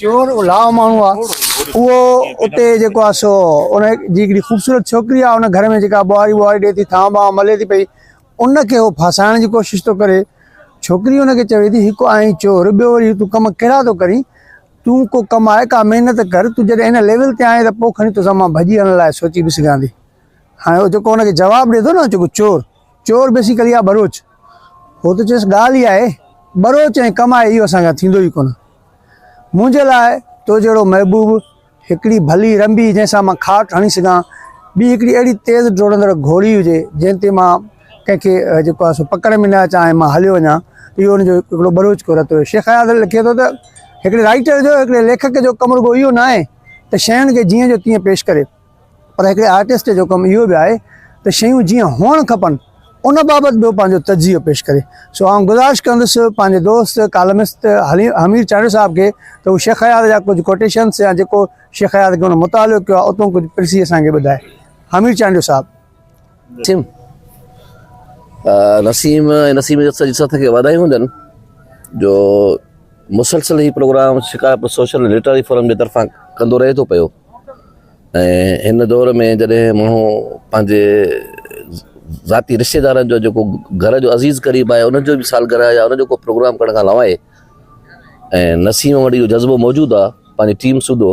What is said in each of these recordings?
چور الاء ماڻهو آ اهو اتي جيڪو آ سو ان جي هڪڙي خوبصورت ڇوڪري آ ان گهر ۾ جيڪا ٻوهاري ٻوهاري ڏي ٿي ٿان ٻان ملي ٿي پئي ان کي هو ڦاسائڻ جي ڪوشش ٿو ڪري ڇوڪري ان کي چوي ٿي هڪ آئين چور ٻيو وري تون ڪم ڪهڙا ٿو ڪرين تون ڪو ڪم آهي ڪا محنت ڪر تون جڏهن ان ليول تي آئين ته پوء کڻي توسان مان ڀڄي هلڻ لاء سوچي به سگهان ٿي هاڻي هو جيڪو ان کي جواب ڏي ٿو نه جيڪو چور چور بيسيڪلي آ ٻروچ هو ته چيس ڳالهه ئي آهي ٻروچ ۽ ڪم آهي اهو اسان کان ٿيندو ئي ڪونه منهنجي لاء تو جهڙو محبوب هڪڙي ڀلي رنبي جنهن سان مان کاٽ هڻي سگهان ٻي هڪڙي اهڙي تيز ڊوڙندڙ گهوڙي هجي جنهن تي مان ڪنهن کي جيڪو آهي سو پڪڙ ۾ نه اچان ۽ مان هليو وڃان اهو ان جو هڪڙو ٻروچ ڪو رتو هيو شيخ اياز لکي ٿو ته هڪڙي رائٽر جو هڪڙي ليکڪ جو ڪم رڳو اهو نه آهي ته شين کي جيئن جو تيئن پيش ڪري پر هڪڙي آرٽسٽ جو ڪم اهو به آهي ته شيون جيئن هئڻ کپن ان بابت به پنهنجو تجزيو پيش ڪري سو آئون گذارش ڪندس پنهنجي دوست ڪالمسٽ حميد چانڊيو صاحب کي ته هو شيخ اياز جا ڪجهه ڪوٽيشنس يا جيڪو شيخ اياز کي هن مطالعو ڪيو آهي اتون ڪجهه پرسي اسان کي ٻڌائي حميد چانڊيو صاحب ٿيم نسيم ۽ نسيم جي سڄي سٿ کي واڌايون هجن جو مسلسل هي program Shikarpur social ۽ literary forum جي طرفان ڪندو رهي ٿو پيو ۽ هن دور ۾ جڏهن ماڻهو پنهنجي ذاتي رشتي دارن جو جيڪو گهر جو عزيز قريب آهي ان جو به سالگرهه يا ان جو ڪو پروگرام ڪرڻ کان لواء ۽ نسيم وٽ اهو جذبو موجود آهي پنهنجي ٽيم سوڌو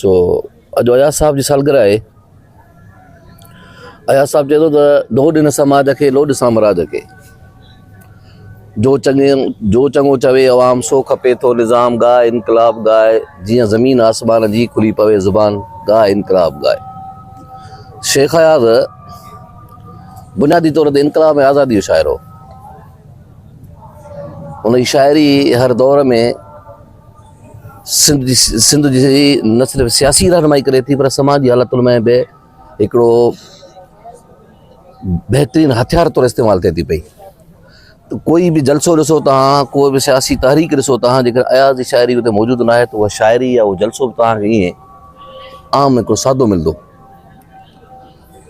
سو اڄ اياز صاحب جي سالگرهه آهي. اياز صاحب چئي ٿو ته ڊوهه ڏن سماج کي لوڏ سامراج کي جو چڱي جو چڱو چوي عوام سو کپي ٿو نظام ڳاء انقلاب ڳاء جيئن زمين آسمان جي کلي پوي زبان ڳاء انقلاب ڳاء شيخ اياز بنيادي طور تي انقلاب ۽ آزادي جو شاعر هو ان جي شاعري هر دور ۾ سنڌ جي نه صرف سياسي رهنمائي ڪري ٿي پر سماجي حالتن ۾ به هڪڙو بهترين هٿيار طور استعمال ٿئي ٿي پئي ڪوئي به جلسو ڏسو تان ڪوئي به سياسي تحريڪ ڏسو تان جيڪر اياز جي شاعري اتي موجود نه آهي ته اها شاعري يا اهو جلسو به تان کي ائين عام هڪڙو سادو ملندو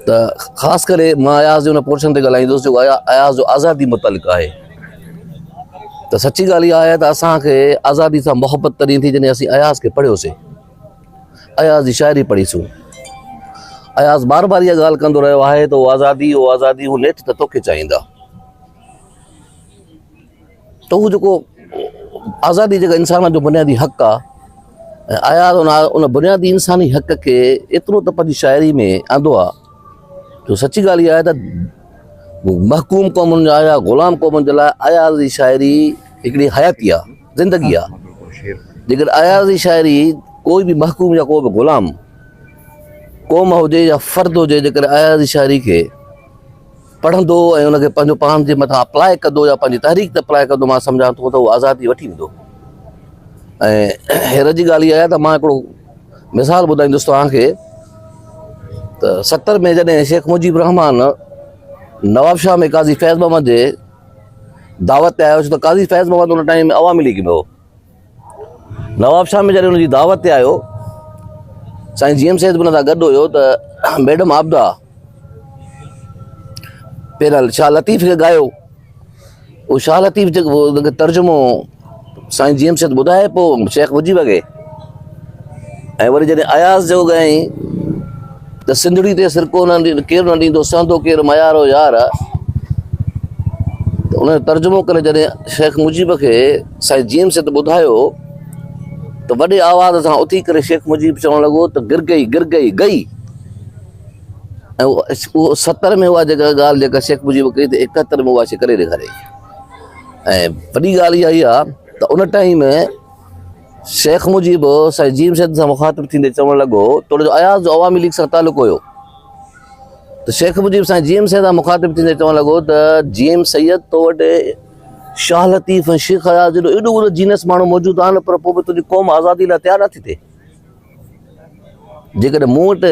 ته خاص ڪري مان اياز جي ان پورشن تي ڳالهائيندس جو اياز جو آزادي متعلق آهي ته سچي ڳالهه اها آهي ته اسانکي آزادي سان محبت تڏهن ٿي جڏهن اسين اياز کي پڙهيوسي اياز جي شاعري پڙهي سون اياز بار بار اها ڳالهه ڪندو رهيو آهي ته آزادي او آزادي هو نيٺ ته توکي چاهيندا ته هو جيڪو آزادي جيڪا انسان جو بنيادي حق آ ۽ اياز ان ان بنيادي انساني حق کي ايترو ته پنهنجي شاعري ۾ آندو آ جو سچي ڳالهه اها آهي ته محڪوم قومن جا يا غلام قومن جي لاء اياز جي شاعري هڪڙي حياتي آ زندگي آ جيڪڏهن اياز جي شاعري ڪوئي به محڪوم يا ڪو به غلام قوم هجي يا فرد هجي جيڪڏهن اياز جي شاعري کي پڙهندو ۽ ان کي پنهنجو پاڻ جي مٿان اپلاء ڪندو يا پنهنجي تحريڪ تي اپلاء ڪندو مان سمجهان ٿو ته هو آزادي وٺي ويندو ۽ هيرت جي ڳالهه اها آهي ته مان هڪڙو مثال ٻڌائيندس توهان کي ته ستر ۾ جڏهن شيخ مجيب الرحمان نواب شاهه ۾ قاضي فيض محمد جي دعوت تي آيو ته قاضي فيض محمد ان ٽائيم عوامي ليگ ۾ هو نواب شاهه ۾ جڏهن ان جي دعوت تي آيو، سائين جي ايم سيد به ان سان گڏ هيو ته ميڊم عابده پيرل شاهه لطيف کي ڳايو. اهو شاهه لطيف جيڪو ان کي ترجمو سائين جي ايم سيد ٻڌائي پوء شيخ مجيب کي ۽ وري جڏهن اياز جيڪو ڳايائين ته سنڌڙي تي سرڪو نه ڪير نه ڏيندو سهندو ڪير ميار و يار ته ان جو ترجمو ڪري جڏهن شيخ مجيب کي سائين جيمس ات ٻڌايو ته وڏي آواز سان اٿي ڪري شيخ مجيب چوڻ لڳو ته گر گئي گر گئي گئي اهو ستر ۾ اها جيڪا ڳالهه جيڪا شيخ مجيب ڪئي ته اڪهتر ۾ اها شي ڪري ڏيکاري ۽ وڏي ڳالهه اها ئي آهي ته ان ٽائيم شيخ مجيب سائين جيم سيد سان مخاطب ٿيندي چوڻ لڳو توڙي جو اياز جو عوامي ليگ سان تعلق هيو ته شيخ مجيب سائين جيم سيد سان مخاطب ٿيندي چوڻ لڳو ته جيم سيد تو وٽ شاهه لطيف ۽ شيخ اياز جيڏو ايڏو اونو جينس ماڻهو موجود آهن پر پوء به تنهنجي قوم آزادي لاء تيار نٿي ٿئي جيڪڏهن مون وٽ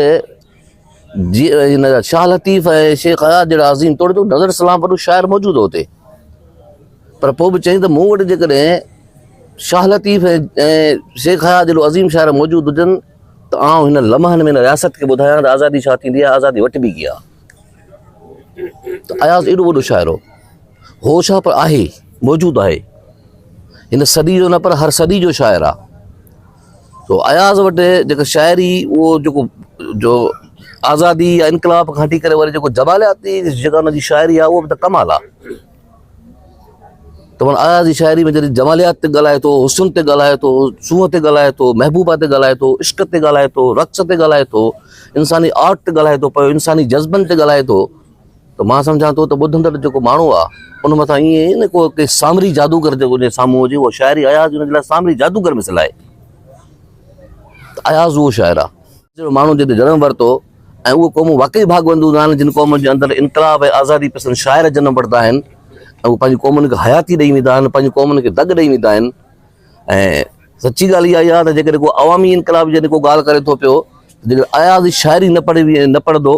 جي هن شاهه لطيف ۽ شيخ اياز جهڙا عظيم توڙي تو نظر سلام وڏو شاعر موجود هو اتي پر پوء به چئي ته مون وٽ جيڪڏهن شاهه لطيف ۽ شيخ اياز جهڙو عظيم شاعر موجود هجن ته آئون هن لمحن ۾ رياست کي ٻڌايان ته آزادي ڇا ٿيندي آهي آزادي وٽبي ڪيئن آهي ته اياز ايڏو وڏو شاعر هو هو ڇا پر آهي موجود آهي هن صدي جو نه پر هر صدي جو شاعر آهي تو اياز وٽ جيڪا شاعري اهو جيڪو جو آزادي يا انقلاب کان هٽي ڪري وري جيڪو جمالياتي جيڪا هن جي شاعري آهي اهو به ته ڪمال آهي ته مانا اياز جي شاعري ۾ جڏهن جماليات تي ڳالهائي ٿو حسن تي ڳالهائي ٿو سونهن تي ڳالهائي ٿو محبوبا تي ڳالهائي ٿو عشق تي ڳالهائي ٿو رقص تي ڳالهائي ٿو انساني آرٽ تي ڳالهائي ٿو پيو انساني جذبن تي ڳالهائي ٿو ته مان سمجهان ٿو ته ٻڌندڙ جيڪو ماڻهو آهي ان مٿان ائين اهي نه ڪو ڪي سامري جادوگر جيڪو جي سامهون هجي اهو شاعر ئي اياز ان جي لاء سامري جادوگر مثل آهي ته اياز اهو شاعر آهي جهڙو ماڻهو جنهن تي جنم ورتو ۽ اهي قومون واقعي ڀاڳوندون آهن جن قومن جي اندر انقلاب ۽ آزادي پسند شاعر جنم ورتا آهن ۽ اهي پنهنجي قومن کي حياتي ڏئي ويندا آهن پنهنجي قومن کي دڳ ڏئي ويندا آهن ۽ سچي ڳالهه اها ئي آهي ته جيڪڏهن ڪو عوامي انقلاب جي جيڪو ڳالهه ڪري ٿو پيو جيڪڏهن اياز شاعري نه پڙهي نه پڙهندو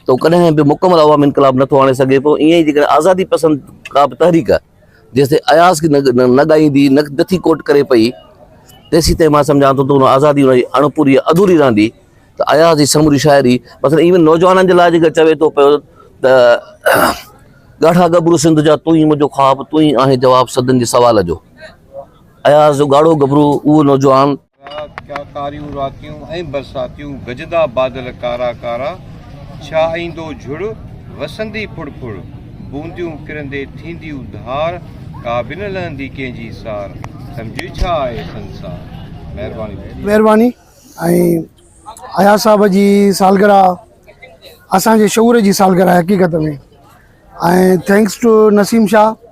ته هو ڪڏهن به مڪمل عوامي انقلاب نٿو آڻي سگهي ٿو، ائين ئي جيڪڏهن آزادي پسند ڪا به تحريڪ جيستائين اياز کي نه ڳائيندي، نه ٿي ڪوٽ ڪري پئي، تيسيتائين مان سمجهان ٿو ته ان آزادي ان جي اڻ پوري يا اڌوري رهندي ته اياز جي سموري شاعري مثلاً ايون نوجوانن جي لاء جيڪڏهن چوي ٿو پيو ته ڳاڙها ڳڀرو سنڌ جا تون ئي منهنجو خواب تون ئي آهين جواب سدن جي سوال جو اياز جو ڳاڙهو ڳڀرو اهو نوجوان رات ڪا ڪاريون راتيون ۽ برساتيون گجندا بادل ڪارا ڪارا ڇا ايندو جھڙ وسندي ڦڙ ڦڙ بونديون ڪرندي ٿينديون ڌار ڪا به نه لھندي ڪنھن جي سار سمجھي ڇا آھي سنسار مھرباني. مھرباني ۽ اياز صاحب جي سالگرهه اسان جي شعور جي سالگرهه آهي حقيقت ۾ ۽ ٿينڪس ٽو نسيم شاهه.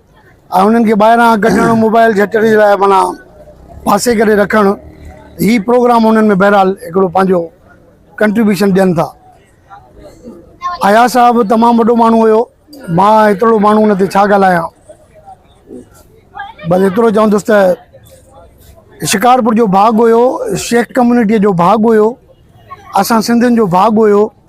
۽ انهن کي ٻاهران ڪڍڻ موبائل جهٽڙي لاء معنيٰ پاسي ڪري رکڻ هي پروگرام انهن ۾ بهرحال هڪڙو پنهنجو ڪنٽريبيوشن ڏين ٿا. اياز صاحب تمام وڏو ماڻهو هيو مان ايترڙو ماڻهو ان تي ڇا ڳالهايان بس ايترو چوندس ته شڪارپور جو ڀاڳ هيو شيخ ڪميونٽي جو ڀاڳ هيو اسان سنڌين جو ڀاڳ هيو.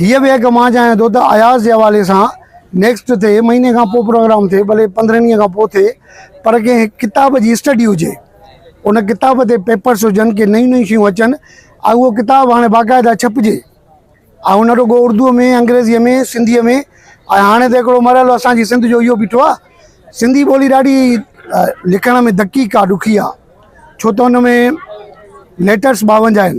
هيء به هڪ مان چاهيان ٿو ته اياز جي حوالي سان نيڪسٽ ٿئي، مهيني کان پوء پروگرام ٿئي، ڀلي پندرهن ڏينهن کان پوء ٿئي پر ڪنهن هڪ ڪتاب جي اسٽڊي هجي. ان ڪتاب تي پيپرس هجن، ڪي نيون نيون شيون اچن ۽ اهو ڪتاب هاڻي باقاعده ڇپجي ۽ نه رڳو اردوء ۾، انگريزيء ۾، سنڌيء ۾ ۽ هاڻي ته هڪڙو مرحلو اسان جي سنڌ جو اهو بيٺو آهي. سنڌي ٻولي ڏاڍي لکڻ ۾ دقيق آهي، ڏکي آهي، ڇو ته ان ۾ ليٽرس ٻاونجاهه آهن.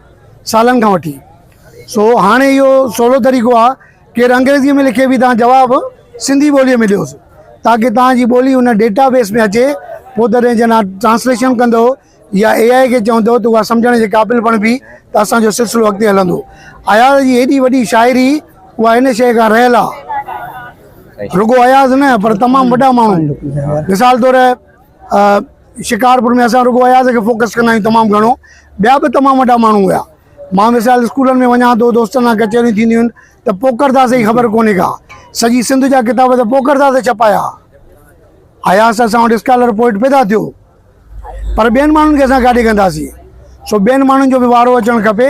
سالن کان وٺي سو هاڻي اهو سولو طريقو آهي ڪير انگريزي ۾ لکي به تان جواب سنڌي ٻولي ۾ ڏيوس تاڪي تان جي ٻولي ان ڊيٽا بيس ۾ اچي پوء تڏهن جنا ٽرانسليشن ڪندو يا اي آء کي چوندو ته اها سمجهڻ جي قابل بڻبي ته اسان جو سلسلو اڳتي هلندو اياز جي هيڏي وڏي شاعري اها ان شيء کان رهيل آهي رڳو اياز نه پر تمام وڏا ماڻهو مثال طور شڪارپور ۾ اسان رڳو اياز کي فوڪس ڪندا آهيون تمام گهڻو ٻيا به تمام وڏا ماڻهو هيا مان مثال اسڪولن ۾ وڃان ٿو دوستن سان ڪچهريون ٿينديون آهن ته پوڪردا سائين خبر ڪونهي ڪا سڄي سنڌ جا ڪتاب ته پوڪردا سائين ڇپايا اياز ته اسان وٽ اسڪالر پوئٽ پيدا ٿيو پر ٻين ماڻهن کي اسان ڪاڏي ڪنداسين سو ٻين ماڻهن جو به وارو اچڻ کپي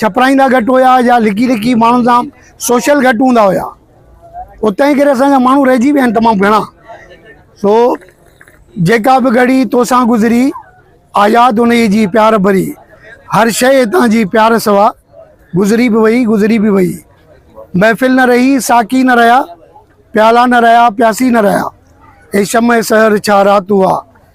ڇپرائيندا گهٽ هيا يا لڪي لڪي ماڻهن سان سوشل گهٽ هوندا هيا او تنهن ڪري اسان جا ماڻهو رهجي ويا آهن تمام گهڻا سو جيڪا به گهڙي توسان گذري آياد انهي جي پيار ڀري هر شيء هتان جي پيار سوا گذري به وئي گذري به وئي محفل نه رهي ساقي نه رهيا پيالا نه رهيا پياسي نه رهيا اي شمع سحر ڇا رات هئا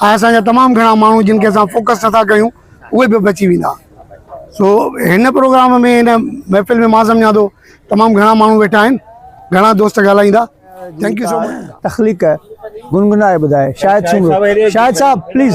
آء اسان جا تمام گهڻا ماڻهو جن کي اسان فوڪس نٿا ڪيون اهي به بچي ويندا سو هن پروگرام ۾ هن محفل ۾ مان سمجهان ٿو تمام گهڻا ماڻهو ويٺا آهن گهڻا دوست ڳالهائيندا ٿينڪ يو سو مچ تخليق گنگنائي ٻڌائي شاهد سومرو شاهد صاحب پليز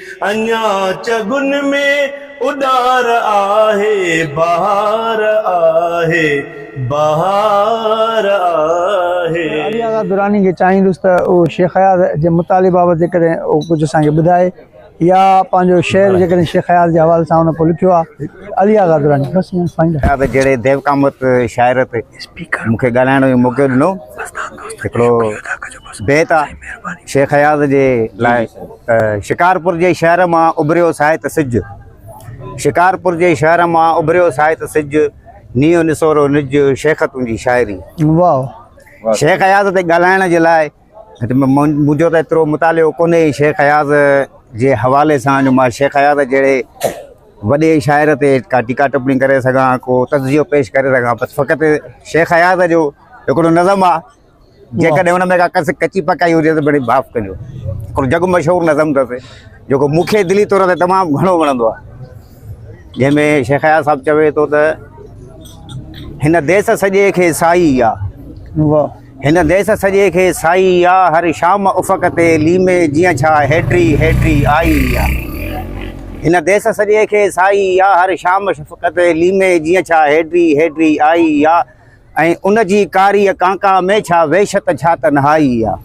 اڃا چڳن ۾ اڏار آهي، بهار آهي، بهار آهي. ته علي آغا دراني کي چاهيندس ته هو شيخ اياز جي مطالعي بابت جيڪڏهن هو ڪجهه اسان کي ٻڌائي يا پنهنجو شعر جيڪڏهن شيخ اياز جي حوالي سان هن ڪو لکيو آهي علي آغا دراني بس ائين فائنل آهي. اياز جهڙي ديوقامت شاعر تي مون کي ڳالهائڻ جو موقعو ڏنو. هڪڙو بيت آهي شيخ اياز جي لاء. شڪارپور جي شهر مان اڀريو ساهت سج شڪارپور جي شهر مان اڀريو ساهت سج نيو نسورو نج شيخ تنهنجي شاعري واهه شيخ اياز تي ڳالهائڻ جي لاء منهنجو ته ايترو مطالعو ڪونهي شيخ اياز جي حوالي سان جو مان شيخ اياز جهڙي وڏي شاعر تي ڪا ٽيڪا ٽپڻي ڪري سگھان ڪو تجزيو پيش ڪري سگھان بس فقط شيخ اياز جو هڪڙو نظم آ جيڪڏهن ان ۾ ڪا ڪس ڪچي پڪائي هجي ته ڀلي معاف ڪجو. هڪڙو جڳ مشهور نظم اٿس جيڪو مون کي دلي طور تي تمام گهڻو وڻندو آهي. جنهن ۾ شيخ اياز صاحب چوي ٿو ته هن ديس سڄي کي سائي آ هن ديس سڄي کي سائي آ هر شام افق تي ليمي جيئن ڇا هيڊري هيڊري آئي آ هن ديس سڄي کي سائي آ هر شام افق تي ليمي جيئن ڇا هيڊري هيڊري آئي آ ۽ ان جي ڪاريء ڪانڪا ۾ ڇا وحشت ڇا تنهائي آ.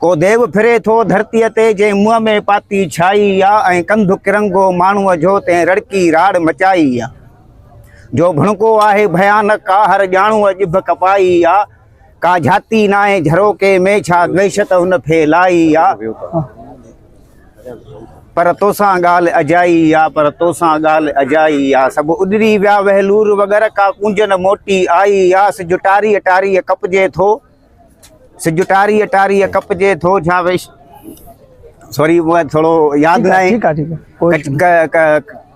ڪو ديو ڦري ٿو ڌرتيء تي جنهن منهن ۾ پاتي ڇائي آ ۽ ڪنڌ ڪرنگهو ماڻهوء جو تنهن رڙڪي راڙ مچائي آ. جو ڀڻڪو آهي ڀيانڪ آ هر ڄاڻوء ڄڀ ڪپائي آ. ڪا جهاتي ناهي جهروڪي ۾ ڇا وحشت هن ڦهلائي آ. پر توسان ڳالهه اجائي آ، پر توسان ڳالهه اجائي آ، سڀ اڏري ويا وهلور وگر، ڪا ڪونج نه موٽي آئي آ، سج ٽاريء ٽاريء ڪپجي ٿو، سج ٽاريء ٽاريء ڪپجي ٿو، ڇا ويش سوري مون کي ٿورو ياد ناهي.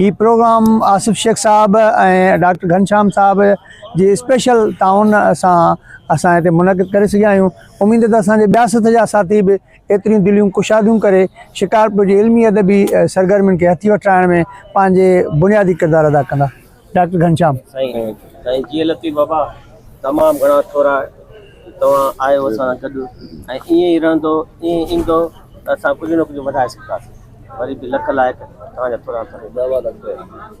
هي پروگرام آصف شيخ صاحب ۽ ڊاڪٽر گهنشام صاحب جي اسپيشل تعاون سان اسان هتي منعقد ڪري سگهيا آهيون اميد ته اسان جي ٻيا سٿ جا ساٿي به ايتريون دليون ڪشاديون ڪري شڪارپور جي علمي ادبي سرگرمين کي هٿي وٺرائڻ ۾ پنهنجي بنيادي ڪردار ادا ڪندا ڊاڪٽر گهنشام سائين جي لطيف بابا تمام گهڻا ٿورا توهان آهيو اسان سان گڏ ۽ ائين ئي رهندو، ائين ئي ايندو ته اسان ڪجهه نه ڪجهه وڌائي سگهنداسين. وري به لک لائق توهان جا ٿورا ٿورا.